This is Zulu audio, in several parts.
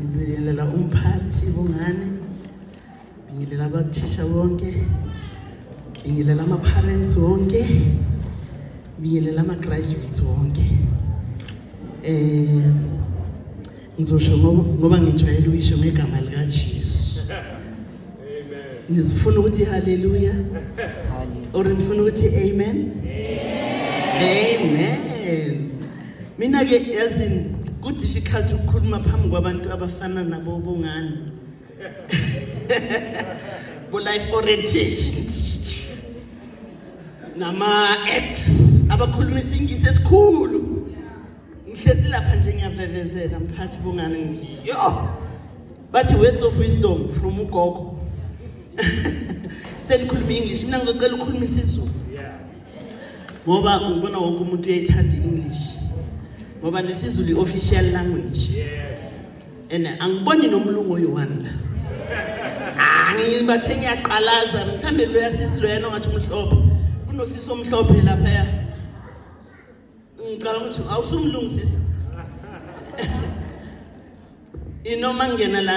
Ngibingelela umphathi bongane. Ngibingelela abathisha bonke. Ngibingelela ama parents wonke. Ngibingelela ama graduates wonke. Eh ngizosho ngoba ngijwayele ukuyisho ngegama lika Jesu. Amen. Ngizifuna ukuthi haleluya. Haleluya. Or ngifuna ukuthi amen. Amen. Amen. Mina ke yazini ku difficult ukukhuluma phambi kwabantu abafana nabo bongani. Bo life orientation nama ex abakhuluma isingisi esikhulu. Ngihlezi lapha nje ngiyavevezela mphathi bongani ngithi yo bathi words of wisdom from ugogo. Senikhuluma English mina ngizocela ukukhuluma isiZulu. ngoba ngibona wonke umuntu uyayithanda i-english ngoba nesizulu i-official language and angiboni nomlungu oyi-one la angibathe ngiyaqalaza mhlawumbe loya sisi loyana ongathi umhlophe kunosisi omhlophe laphaya ngicabanga ukuthi awusumlungu sisi inoma ngena la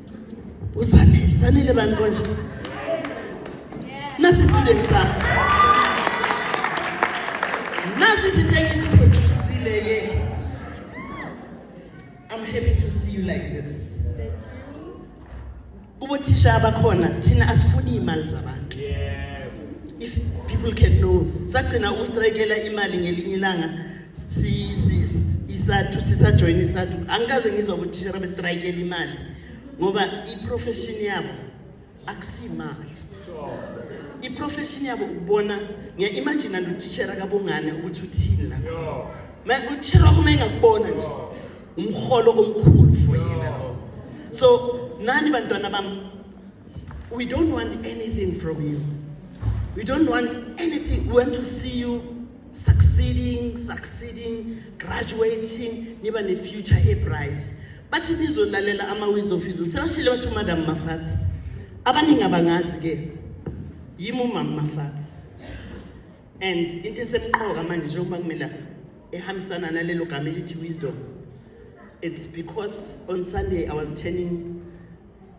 usanele sanele bani konje nasi student sami nasi izinto engiziproducile ye i'm happy to see you like this kubothisha abakhona thina asifuni imali zabantu if people can know sagcina ukustrikela imali ngelinye ilanga isathu sisajoyina isathu angikaze ngizwa ukuthi thishera bestrayikela imali ngoba i-profession yabo akusiyimali i-profession yabo ukubona ngiya-imagine nto utishera kabongane ukuthi uthini la utishera wakho uma engakubona nje umholo omkhulu for yena lo so nani bantwana bam we don't want anything from you we don't want anything we want to see you succeeding succeeding graduating niba ne-future ebright bathi nizolalela ama-wis of izulu sebashile bathi umadam mafathi abaningi abangazi-ke yimi umama mafathi and into esemqoka manje njengoba kumele ehambisana nalelo gama elithi wisdom it's because on sunday i was turning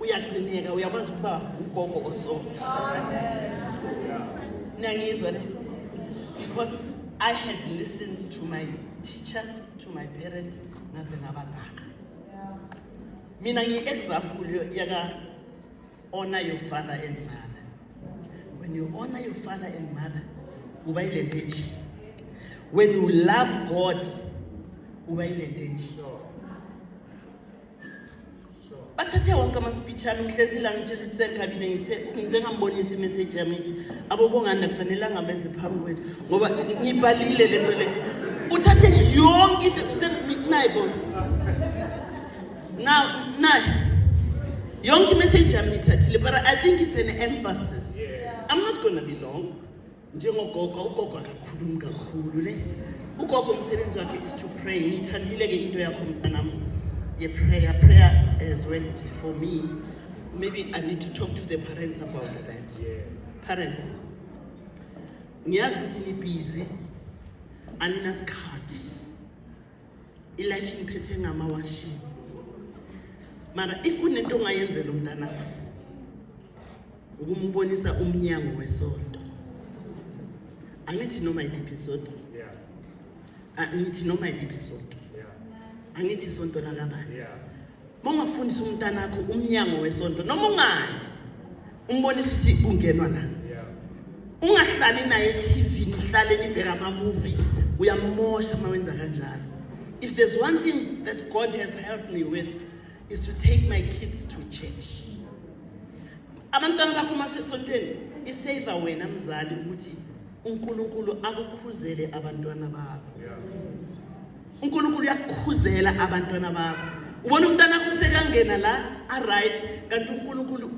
uyaqineka uyakwazi ukuba ugogo oso niyangizwa le because i had listened to my teachers to my parents ngaze ngabangaka mina ngiyi-example yaka-honor your father and mother when you honor your father and mother uba yile nto enje when you love god uba yile nto enje bathathe wonke amaspeech ami ngihlezi la ngitshela ukuthi sengikabile ngithe ngize ngambonisa imeseji yami ithi abobongani akufanelanga beze phambi kwethu ngoba ngibhalile le nto le uthathe yonke into naye bos now naye yonke imeseji yami ngithathile but i think it's an emphasis i'm not gonna be long njengogogo ugogo akakhulumi kakhulu ne ugogo umsebenzi wakhe is to pray ngiyithandile ke into yakho mntanam ye-prayer prayer has went for me maybe i need to talk to the parents about that parents ngiyazi ukuthi nibhizi aninasikhathi ilife ingiphethe ngamawashini mara if kunento ongayenzela umntanakho ukumubonisa umnyango wesonto angithi noma iliphi isonto angithi noma iliphi isonto angithi isonto lakabani mongafundisa umntana wakho umnyango wesonto noma ungayi umbonisa ukuthi ungenwa la ungahlali naye e-tv nihlale nibheka ama-movie uyamosha uma wenza kanjalo if there's one thing that god has helped me with is to take my kids to church abantwana bakho uma sesontweni isave wena mzali ukuthi uNkulunkulu akukhuzele abantwana bakho uNkulunkulu uyakukhuzela abantwana bakho ubona umntana wakho sekangena la a right kanti uNkulunkulu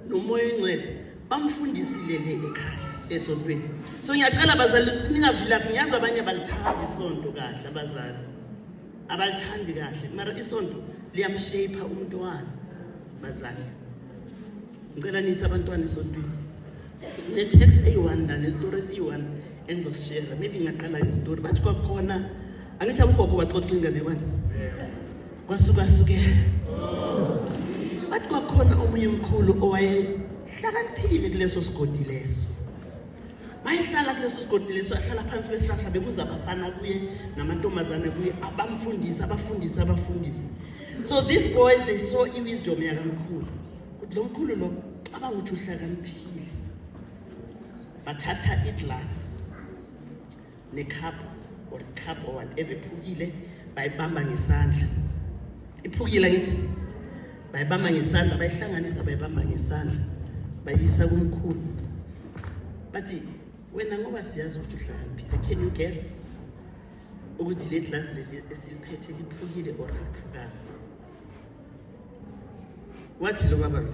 nomoya oncwele bamfundisile le ekhaya esontweni so ngiyacela bazali ningavilaphi ngiyazi abanye balithanda isonto kahle abazali abalithandi kahle mara isonto liyamshaper umntwana bazali ngicela niyise abantwana esontweni ne-text eyi-one la nesitori esiyi-one engizosishera maybe ngingaqala ngezitori bathi kwakukhona angithi abogogo baxoxa inganekwane kwasukasuke bathi kwakukhona omunye mkhulu owayehlakaniphile kuleso sigodi leso mayehlala kuleso sigodi leso ahlala phansi kwesihlahla bekuza abafana kuye namantombazane kuye abamfundisi abafundisi abafundisi so these boys they saw i-wisdom yakamkhulu ukuthi lo mkhulu lo cabanga ukuthi uhlakaniphile bathatha iglasi necup or icup or whatever iphukile bayibamba ngesandla iphukile ngithi bayibamba ngesandla bayihlanganisa bayibamba ngesandla bayisa kumkhulu bathi wena ngoba siyazi ukuthi uhlakaniphile can you guess ukuthi le glass leli esiliphethe liphukile or liphukanga wathi lo baba lo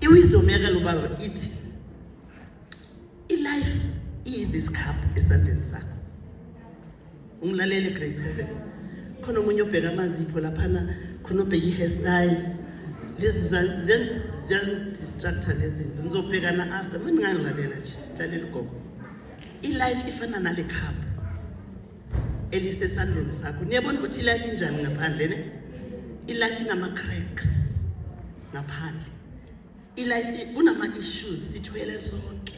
iwisdom yake lo baba ithi ilife iyi-this cup esandleni sakho ungilalele grade seven khona omunye obheka amazipho laphana khona obheka i-hairstyle lezi ziyandistructor lezi zinto ngizobhekana after ma ndingangilalela nje lalela ugogo ilife ifana nale cup elisesandleni sakho niyabona ukuthi ilife injani ngaphandle ne ilife inama-cracks ngaphandle ilife kunama-issues sithwele sonke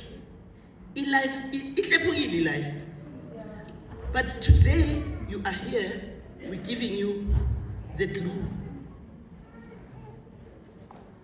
ilife ihlephukile ilife but today you are here we're giving you the glue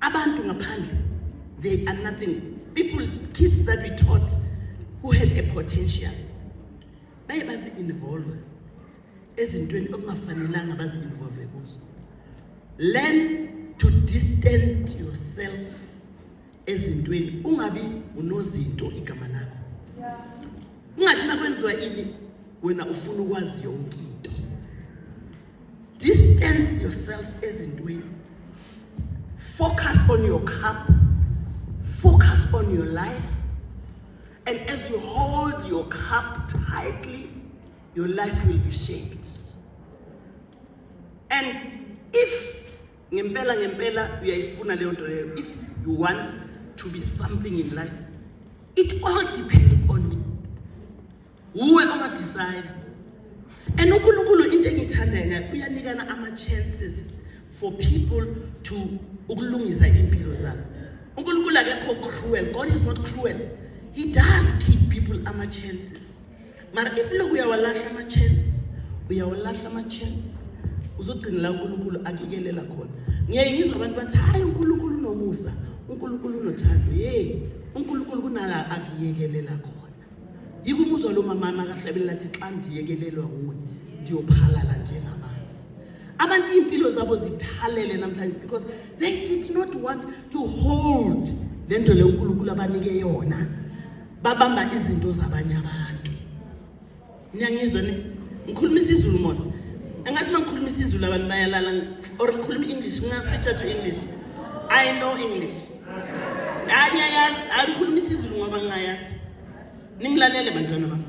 Abantu ngaphandle they are nothing. People kids that we taught who had a potential baye bazi involve ezintweni okungafanelanga bazi involve kuzo. Learn to distance yourself ezintweni ungabi unozinto igama lakho. Ungathi nakwenziwa ini wena ufuna ukwazi yonke into. Distance yourself ezintweni. Focus on your cup. Focus on your life. And as you hold your cup tightly, your life will be shaped. And if ngempela ngempela uyayifuna leyo nto leyo if you want to be something in life it all depends on you wuwe ongadecide and unkulunkulu into engiyithandayo ngayo uyanikana ama-chances for people to ukulungisa iy'mpilo zabo unkulunkulu akekho cruel god is not cruel he does give people ama-chances mara if loku uyawalahla ama-chance uyawalahla ama-chance uzogcina la unkulunkulu akikelela khona ngiyaye ngizwa abantu bathi hhayi unkulunkulu unomusa unkulunkulu unothando yeyi unkulunkulu kunala akuyekelela khona yiko umuzwa lo mama makahlabelela athi xa ndiyekelelwa nguwe ndiyophalala njengamanzi abantu iimpilo zabo ziphalele namhlanje because they did not want to hold le nto le unkulunkulu abanike yona babamba izinto zabanye abantu Niyangizwa ni? Ngikhuluma isiZulu mos. Engathi mangikhuluma isiZulu abantu bayalala or ngikhuluma English, nginga switcha to English. I know English. Angiyayazi, angikhuluma isiZulu ngoba ngingayazi. Ningilalele bantwana bami.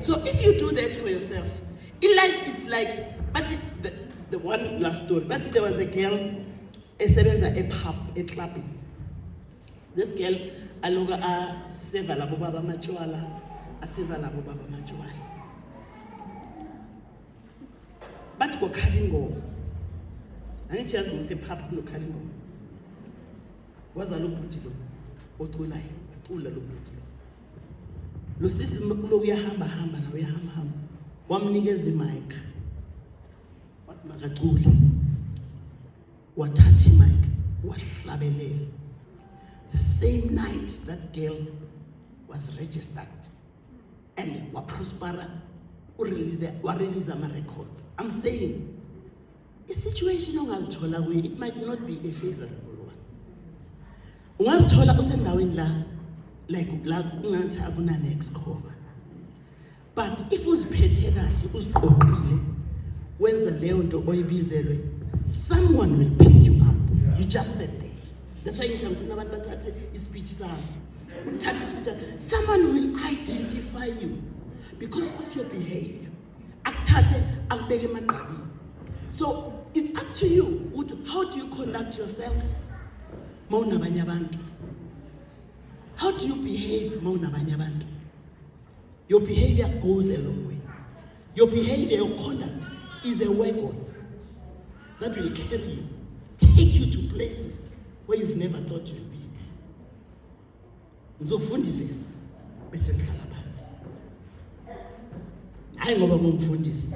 So if you do that for yourself, in life it's like but the, the one last story. But there was a girl esebenza e-pub, e-clubbing. This girl aloka a seva labo baba amatshwala, a seva labo baba amatshwala. Bathi kokhala ingoma. Angithi yazi ngose pop lokhala ingoma. Waza lo bhuti lo oculayo, acula lo bhuti lo. Lo sisi lo uyahamba hamba la uyahamba hamba. Wamnikeza i-mic. Wathi makacule. wathatha imike wahlabelela the same night that girl was registered and waprospera urelease warelease ama-records i'm saying i-situation ongazithola kuyo it might not be a favorable one ungazithola usendaweni la like la kungathi akunane-excover but if uziphethe kahle uziqoqile wenza leyo nto oyibizelwe someone will pick you up you just said that that's why ngithanda ufuna abantu bathathe ispeech sami uthathe ispeech someone will identify you because of your behavior akuthathe akubeke emagqabini so it's up to you ukuthi how do you conduct yourself ma unabanye abantu how do you behave ma unabanye abantu Your behavior goes a long way. Your behavior, your conduct is a weapon that will carry you, take you to places where you've never thought you'd be. Ngizokufunda ivesi bese ngihlala phansi. Hayi ngoba ngumfundisi.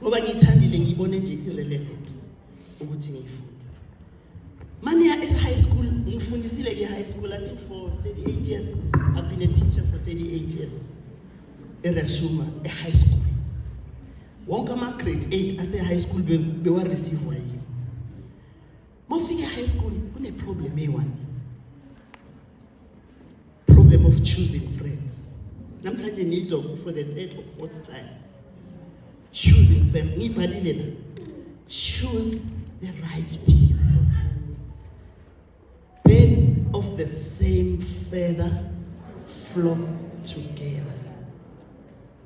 Ngoba ngithandile ngibone nje irrelevant ukuthi ngiyifunde. Mania at high school, ngifundisile ke high school I think for 38 years. I've been a teacher for 38 years. Erashuma e high school. Wonke ama grade 8 ase high school be, be wa receive yini. Mofika high school kune problem eyi one. problem of choosing friends namhlanje nizwa for the third or fourth time choosing friends ngibhalile la choose the right people birds of the same feather flock together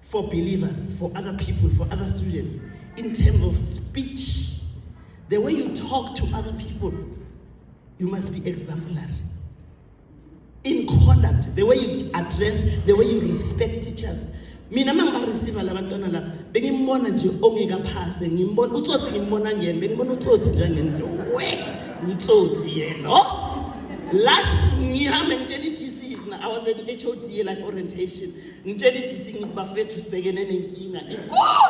for believers, for other people, for other students, in terms of speech. The way you talk to other people, you must be exemplary. In conduct, the way you address, the way you respect teachers. mina uma ngibarisiva la bantwana laba bengimbona nje ongekaphase ngimbona utsotsi ngimbona ngene bengimbona utsotsi njengendle we utsotsi yena oh! last ngihambe ngitshela i-tc i was at hod life orientation ngitshela idisi ngithi bafethu sibhekene nenkinga inkulu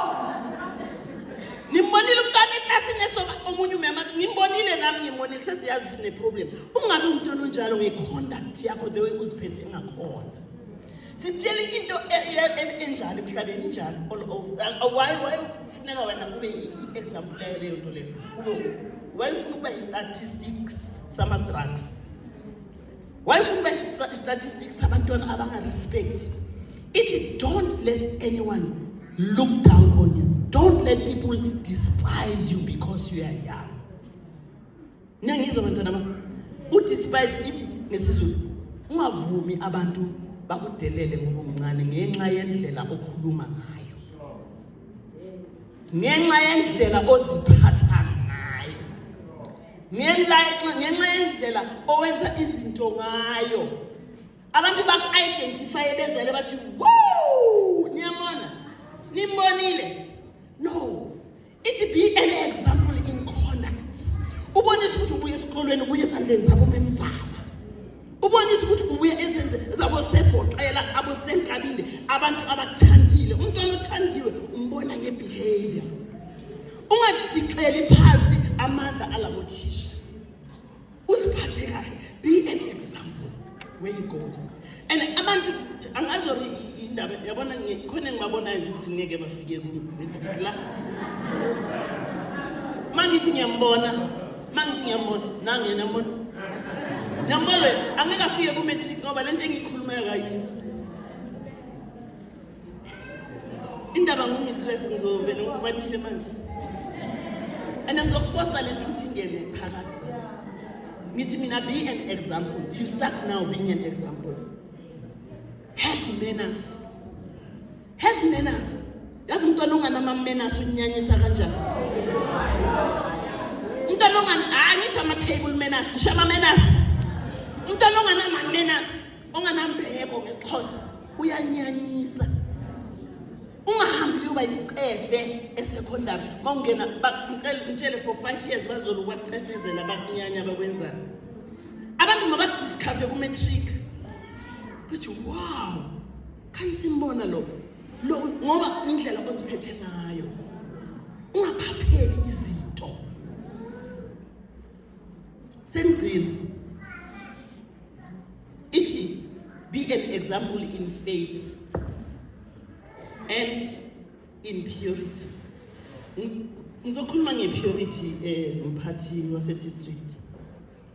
ngimbonile umntwana eklasini esoba omunye umama ngimbonile nami ngimbonile sesiyazi sineproblem ungabe umntwana onjalo ngeconduct yakho the way uziphethe ngakhona sitshele into e, e, e, enjalo emhlabeni injalo all over uh, why why kufuneka wena kube i-example yayo leyo nto leyo why ufuna ukuba i-statistics sama-structs wayefuna uba i-statistics abantwana abangarespect ithi don't let anyone look down on you don't let people despise you because you are young niyangizwa bantwana ba udespise ithi ngesizulu ungavumi abantu bakudelele ngoba umncane ngenxa yendlela okhuluma ngayo ngenxa yendlela oziphatha ngenxa yendlela owenza izinto ngayo abantu baku-identifye bezele bathi wo niyamona nimbonile no ithi be an example in conduct ubonisa ukuthi ubuye esikolweni ubuye esandleni zabo memzala ubonisa ukuthi ubuye ezenze zabosevoxela abosenkabinde abantu abakuthandile umntwana othandiwe umbona ngebehavior ungadixeli phansi amandla alabo thisha uziphathe kahle be an example where you go and abantu angazori indaba yabona khona engibabonayo nje ukuthi ngeke bafike la mangithi ngiyambona mangithi ngiyambona nange nambona nambona loyo angeke afike ku-matric ngoba le nto engiyikhulumayo kayizwa indaba ngumistress ngizovele ngikupanishe manje and ngizokufosta le nto ukuthi ingene phakathi ngithi mina be an example you start now being an example have manners Have manners. Yazi umntwana onganama manners unyanyisa kanjani? Umntwana ongan hayi ngisho ama table manners, ngisho ama manners. Umntwana onganama manners, onganambeko ngesixhosa uyanyanyisa. Ungahambi uba isicefe esekondami. Mawungena bangicela ngitshele for 5 years bazolo kwacefezela bakunyanya bakwenzana. Abantu mabadiscover ku matric. Kuthi wow. Kanisimbona lo lo ngoba indlela oziphethe ngayo ungaphapheli izinto sengcile ithi be an example in faith and in purity ngizokhuluma ngepurity eh mphathi wase district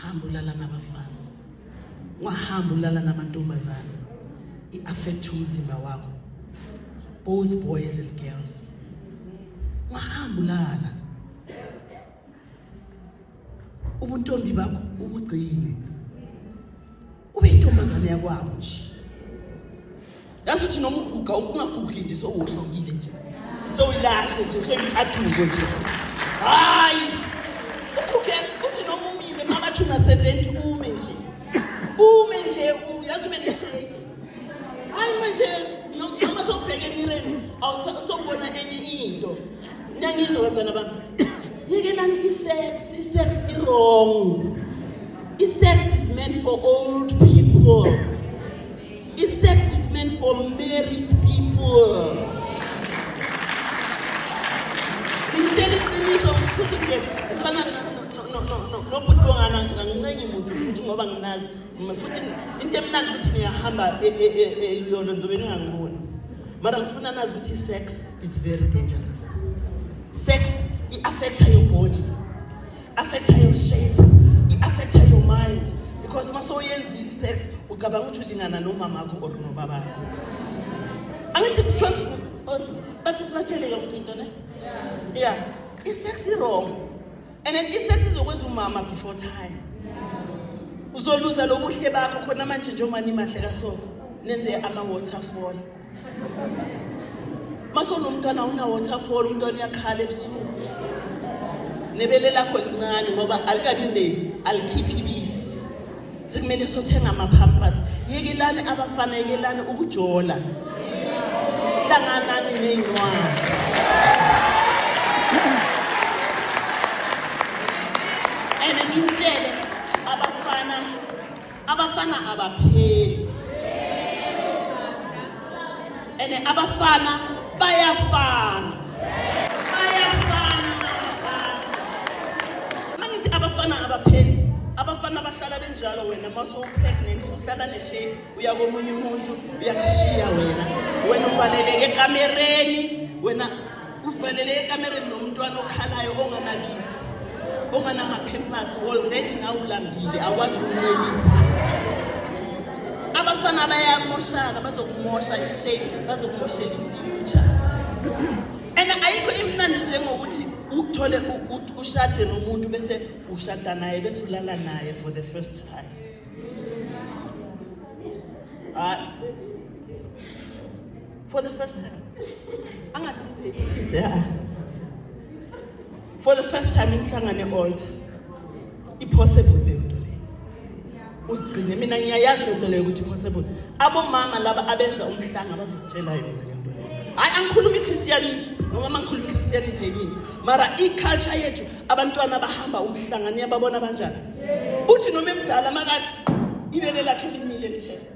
hamba ulala nabafana wahamba ulala namantombazana i-affect umzimba wakho both boys and girls wahamba ulala ubuntombi bakho ubugcine ube intombazane yakwabo nje yazi uthi noma uguga ungagugi nje sowuhlukile nje sowulahle nje soyimcathuko nje hayi uguge uthi noma umile makathi ungaseventhi ume nje ume nje yazi ube nesheki hayi manje noma sokubheka emireni awusawubona enye into Nangizwe bantwana bami. Yekelani isex, isex iwrong. Isex is meant for old people. Isex is meant for married people. Ngitshela iqiniso futhi nje ufana nobhuti bongana ngancengi muntu futhi ngoba nginazi futhi into emnandi ukuthi niyahamba eluyolo ngizobe ningangiboni mara ngifuna nazi ukuthi i-sex is very dangerous sex i-affecta your body affecta your shape i-affecta your mind because uma soyenzile i-sex ucabanga ukuthi ulingana nomamakho or nobabakho angithi kuthiwa bathi sibatshele yonke into ne ya i-sex i-wrong and at least sesizokwenza umama before time uzoluza lobuhle bakho khona manje njengoba nimahle kasoko nenze ama-waterfall masonomntwana una-waterfall umntwana uyakhala ebusuku nebele lakho lincane ngoba alikabi nedi alikhiphi ibisi sekumele sothenga ama-pampers yekelani abafana yekelani ukujola hlanganani ney'ncwadi and ngintshele abafana abafana abapheli and abafana bayafana bayafana mangithi abafana abapheli abafana bahlala benjalo wena uma sowupregnant uhlala neshame uya komunye umuntu uyakushiya wena wena ufanele ekamereni wena uvalele ekamereni nomntwana okhalayo onganakisi onganamaphempasi already nawe ulambile akwazi ukuncelisa abafana bayamoshana bazokumosha ishame bazokumoshela ifuture and ayikho imnandi njengokuthi uthole ushade nomuntu bese ushada naye bese ulala naye for the first time hayi for the first time angathi mthethise ah. for the first time imhlangane e-alter i-possible leyo nto leyo usigcine mina ngiyayazi le nto leyo ukuthi i-possible abomama laba abenza umhlanga bazokutshela yona le nto leyo hayi angikhuluma i-christianity noma mangikhuluma i-christianity yenyini mara i-culture yethu abantwana bahamba umhlanga niyababona banjani uthi noma emdala makathi ibele lakhe limile lithe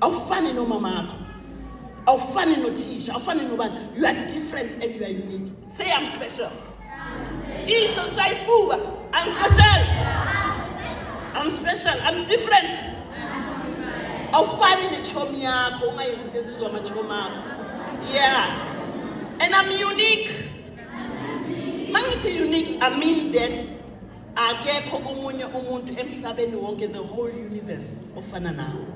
awufani nomamakho awufani nothisha awufani nobani you are different and you are unique say i'm special isho shaya isifuba i'm special i'm special i'm different awufani nechomi yakho ungayenzi into ezizwa amachomi akho yeah and i'm unique mangithi unique i mean that akekho omunye umuntu emhlabeni wonke the whole universe ofana nawo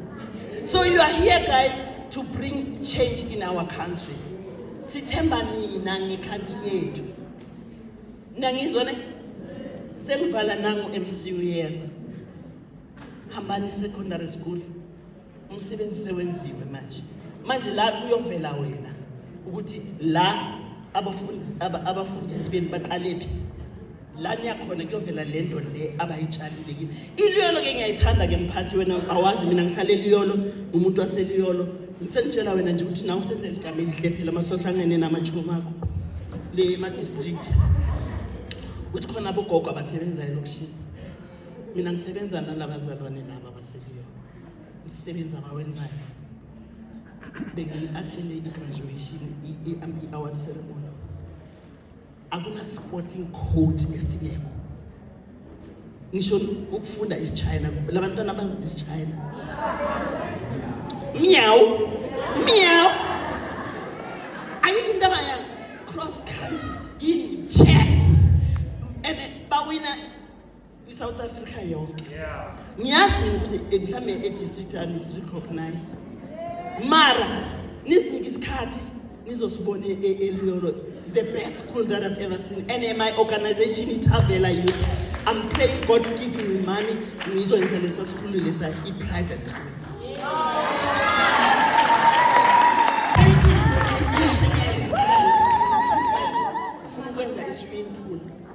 so you are here guys to bring change in our country sithemba nina ngekhanti yethu nangizwa ne sengivala nangu MCU yeza hambani secondary school umsebenzi sewenziwe manje manje la kuyovela wena ukuthi la abafundisi abafundisi benu baqalephi la niyakhona kuyovela le nto le abayitshalile kini iliyolo ke ngiyayithanda ke mphathi wena awazi mina ngihlale eliyolo ngumuntu waseliyolo ngisengitshela wena nje ukuthi nawe usenzela igama elihle phela masohlangene namachumo akho le ma-district ukuthi khona abogogo abasebenzayo lokishini mina ngisebenza nalabazalwane laba baseliyo umsebenzi abawenzayo bengiyi-athende i-graduation i-award ceremony akuna-sporting code esingekho ngisho ukufunda isichina la bantwana abazi isichina myawu myawu ayikho into abaya cross country yini chess and bawina kwi-south africa yonke niyazi mina ukuthi eh, mhlawumbe edistrict yami sirecognize mara nisinike isikhathi nizosibona e-, e-, eliyolo the best school that i've ever seen and eh, my organization ithavela youth i'm praying god give me money ngizokwenza lesa sikhulu lesa i-private school